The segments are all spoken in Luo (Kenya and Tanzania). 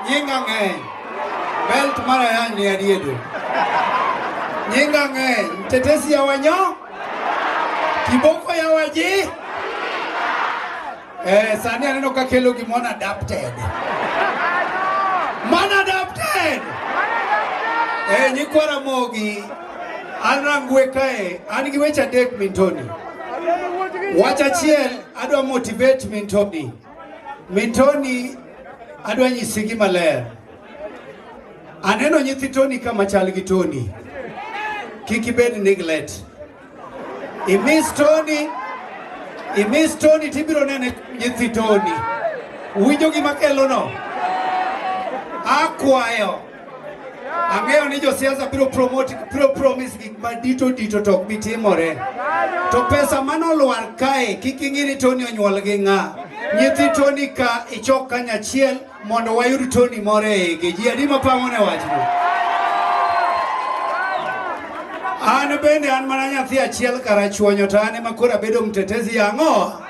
Nyinga ng'eny. Belt mara yang ni adiedo. Nyinga ng'eny. Mtetesi ya wanyo. Kiboko ya waji. Eh, sani aneno ka kelo gimona adapted. Mana adapted. Eh, nyikwara mogi. An rangwe kae. An gi weche adek mintoni. Wacha chiel. Adwa motivate min Tony. Min Tony adwa nyisi gi maler. Aneno nyithi Tony kama chal gi Tony. Kik ibed neglect. I miss Tony. I miss Tony tibiro nene nyithi Tony. Winjo gima kelo no. Akwayo. Ang'eyo ni josiasa biro promote biro promise gik madito dito to ok bi timore. To pesa manolwar kae kik ing'i ni Tony onyuol gi ng'a. Nyithi Tony ka ichok kanyachiel mondo wayud Tony moro e igi. Ji adi mapang'o ne wachno? An bende an mana nyathi achiel karachuonyo to an ema koro abedo mtetezi yang'oa.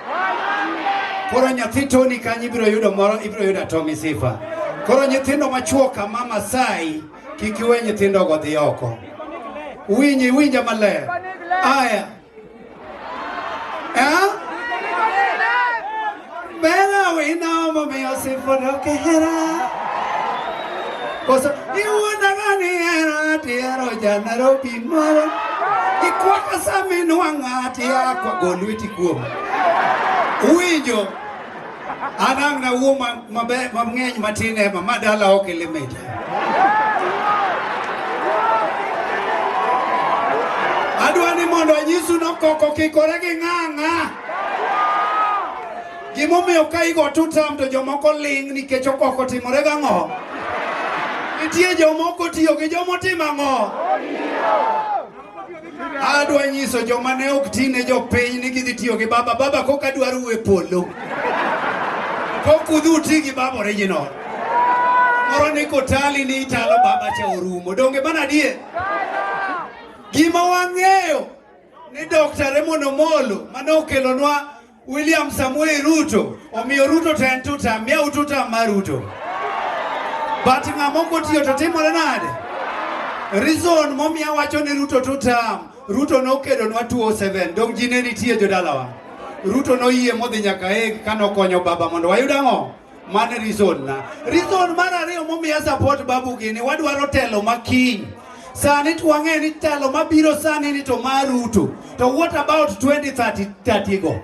Koro nyathi Tony kanyo ibiro yudo moro, ibiro yudo Tommy Sifa. Koro nyithindo machuo ka mama sai kik iwe nyithindo go dhi oko. Winyi winja maler. Aya. Eh? Bella we know mommy Sifa no kehera. Koso iwuonda gani ero ati ero ja Nairobi moro ikwaka saminwang'a ati akwa go lweti kuom winjo anang' na wuo mang'eny matin ema ma dala ok elemedi adwa ni mondo anyisu nokoko kikore gi ng'ang'a Gimomiyo ka igo two term to jomoko ling' nikech okoko timore gang'o? Nitie jomoko tiyo gi jomotimo ang'o? Adwa nyiso joma ne ok ti ne jopiny ni gidhi tiyo gi baba. Baba kok adwar uwe polo. Kok udhi uti gi baba original. Moro ni kotali ni italo baba cha orumo. Donge mana die? Gima wang'eyo ni Dr. Raymond Omolo mane okelonwa William Samuel Ruto omiyo Ruto to en tuta miya ututa mar Ruto but ng'ama ok otiyo to timore nade? Reason momiya wacho ni Ruto tuta Ruto nokedonwa 207 dong ji ne nitie jodalawa Ruto noyie modhi nyaka e kanokonyo baba mondo wayud ang'o? Mano e reason na. Reason mar ariyo momiyo support Babu gini wadwaro telo makiny. Sani to wang'eyo ni telo mabiro sani ni to mar Ruto. To what about 2030 go?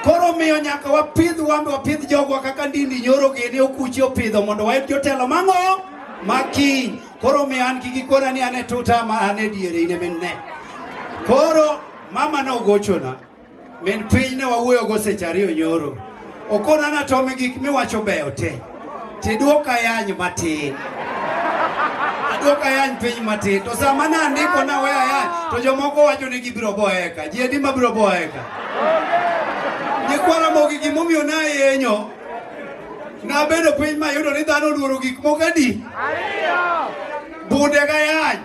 Koro miyo nyaka wapidh wambe wapidh jogwa kaka ndindi nyoro gini okuchi opidho mondo wayud jotelo mang'o makiny. Koro miyo an gi gikona ni an e tuta ma an e diere in e min ne. Koro mama no gochona. Min piny ne wawuoyogo seche ariyo nyoro. Okona na tome gik miwacho beyo te. Tidwoka yany matin. Adwoka yany piny matin. To sama ne andiko na weya yany, to jomoko wacho ni gibiro boeka. Ji adi ma biro boeka? Nyikwara mogi gimomiyo na yenyo. Nabedo piny mayudo ni dhano oluoro gik moko adi? Ariyo. Bude ga yany.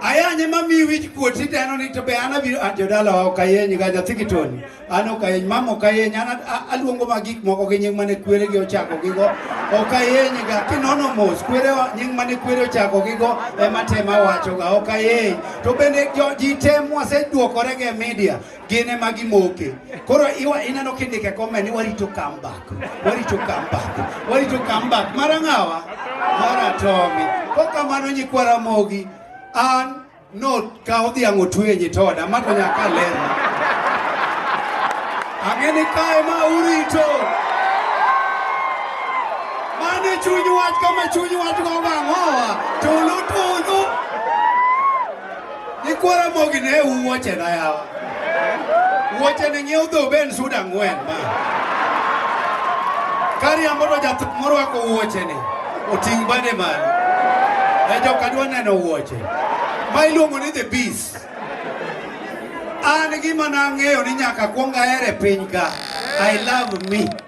Ayanye ma mi wich kuot iteno ni to be an abiro an jodala ok ayeny ga nyathi kitoni. An ok ayeny mam ok ayeny an a- aluongo ma gik moko gi nying mane kwere gi ochako gi go. Ok ayeny ga kinono mos kwere wa- nying mane kwere ochako gi go ema tema wacho ga ok ayeny. To bende jo- ji tem waseduokore gi e media gin ema gimoke. Koro iwa ineno kindike comment ni warito comeback. Warito comeback. Warito comeback. Mara ngawa? Mara Tommy. Koka mano nyikwa Ramogi an no ka odhi ango tuye nyitoda mato nyaka lero. Angeni kae ma urito. Mane chuny wach kama chuny wach go bangoa. Tulu tulu. Nyikwa Ramogi ne u wuoche na yawa. Wuoche ne ng'iew dho ben sud ang'wen ma. Kariambo to jathum morwako wuoche ni oting' bade malo. E joka dwa neno wuoche. Ma iluongo ni the beast. An gima nang'eyo ni nyaka kwong ahere piny ka. I love me.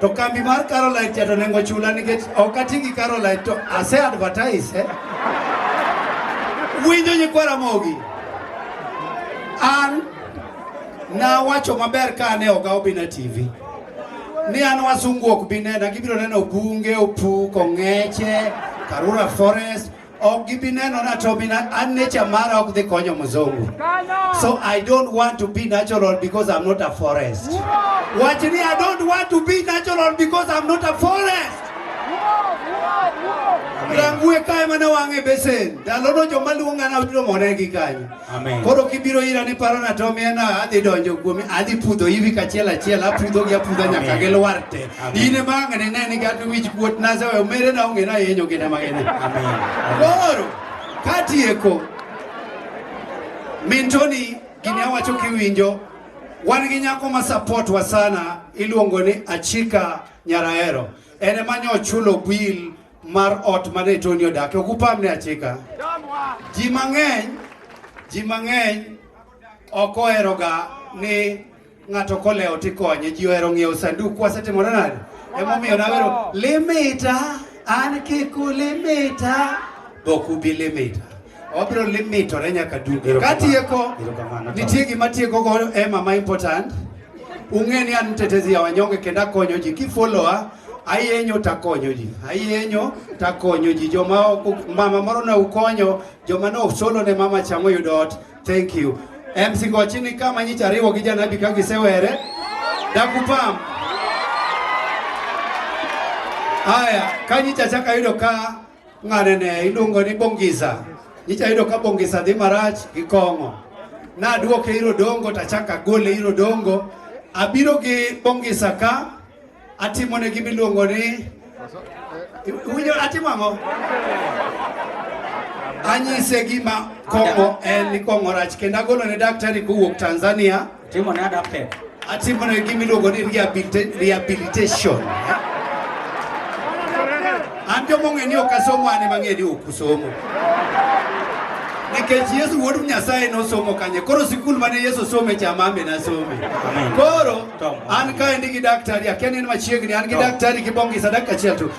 To kambi mar Caroline cha to nengo chula nikech ok ati gi Caroline to ase advertise eh? Winjo nyikwa Ramogi an nawacho maber ka ane oga Obina TV ni an wasungu ok bi nena, gibiro neno bunge, opuk, ong'eche, Karura Forest ok gibi neno na to bi na- an nature mara ok dhi konyo mzungu so i don't want to be natural because i'm not a forest wach ni i don't want to be natural because i'm not a forest rangue kae mana wang'e besen ndalono joma luonga na biro more gi kanyo Amen. Koro kibiro ira ni paro na to miena adhi donjo kuomi adhi pudho hivi kachiel achiel apudho gi apudha nyaka Amen. gilwar te. Amen. In ema ang' ne ni gato wich kuot na sawe omere na onge na yenyo gina magene. Amen. Koro katieko Mintoni gini awacho kiwinjo wan gi nyako ma support wa sana iluongo ni Achika Nyarahero. En ema nyo chulo bill mar ot ma ne Tony odakie. Ok upamne achika. Ji mang'eny, ji mang'eny ok oheroga ni ng'ato kolewo tikonye. Ji ohero ng'iewo sanduk. Wasetimore nade? Emomiyo nawero limita an kik ulimita, be ok ubi limita. Obiro limitore nyaka duto. Erokamano. Katieko, Erokamano. nitie gima tieko go ema ma important. Ung'e ni an mtetezi ya wanyonge kendo akonyo ji. Kifollowa, ayenyo takonyo ji. Ayenyo takonyo ji. Joma ok- mama moro ne ukonyo, joma ne usolo ne mama chamo yudo ot. Thank you. MC Gochi ni kama nyicha ariwo gi janabi ka gisewere. Dakupam. Haya, kanyicha chaka yudo ka Ng'anene iluongo ni Bongisa. Nyicha yudo ka Bongisa dhi marach gi kong'o. Nadwoke iro dongo tachaka gole iro dongo. Abiro gi Bongisa ka atimo ne gima iluongo ni winyo atimo ang'o? Anyise gima kong'o en ni kong'o rach kendo agolo ne daktari kowuok Tanzania. Timo ne adapted. Atimo ne gima iluongo ni rehabilita- rehabilitation. An joma ong'e ni ok asomo an ema ang'e ni ok usomo. Nikech Yesu wuod Nyasaye nosomo kanye. Koro sikul mane Yesu some cha mame nasome. Amen. Koro Tom. an kaendi gi daktari akia ni en machiegni an gi Tom. daktari gi Bongisa dakika achiel tu.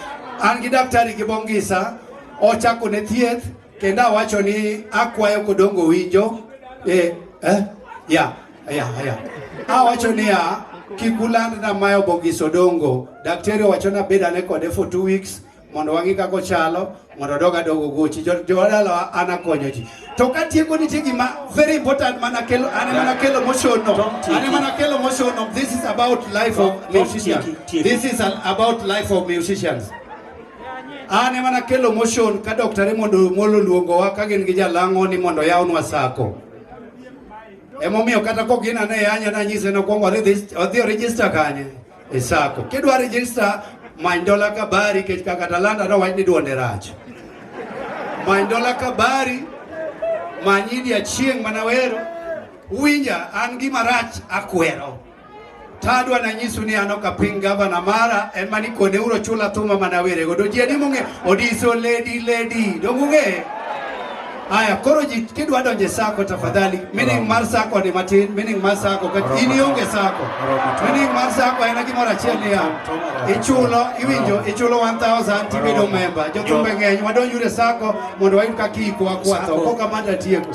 An gi daktari gi Bongisa ochako ne thieth Kendo awacho ni akwayo kodongo winjo eh, eh, ya ya ya awacho niya kik ulandna mae obogis odongo daktari owachona bed ane kode for two weeks mondo wang'i kaka ochalo mondo odog adog ogochi jowadalawa an akonyo ji to katieko nitie gima very important mana kelo ane mana kelo moshono ane mana kelo moshono this is about life of musicians this is about life of musicians An ema nakelo motion ka Dr. Raymond Omolo luongowa ka gin gi jalang'o ni mondo yawnwa sako. Emomiyo kata kok gin ane yanya nanyise nokwongo odhi orejista kanye e sako. Kidwa rejista many dola kabari kech kaka talanta nowach ni duonde rach. Many dola kabari manyidi achieng' manawero winja an gima rach akwero Tadwa na nyisu ni ano ka piny gavana mara en mani kone uro chula thuma mana were godo ji adi mong'e odiso lady lady dong'ung'e Haya, koro ji kidwa donje sako tafadhali, meaning mar sako ni matin, meaning mar sako ka in ionge sako. Meaning mar sako en gimoro achiel niya, ichulo, iwinjo, ichulo 1000 tibedo member. Jothumbe ng'eny wadonjure sako mondo wayud kaka iko akwa tho. Koka manda tieko.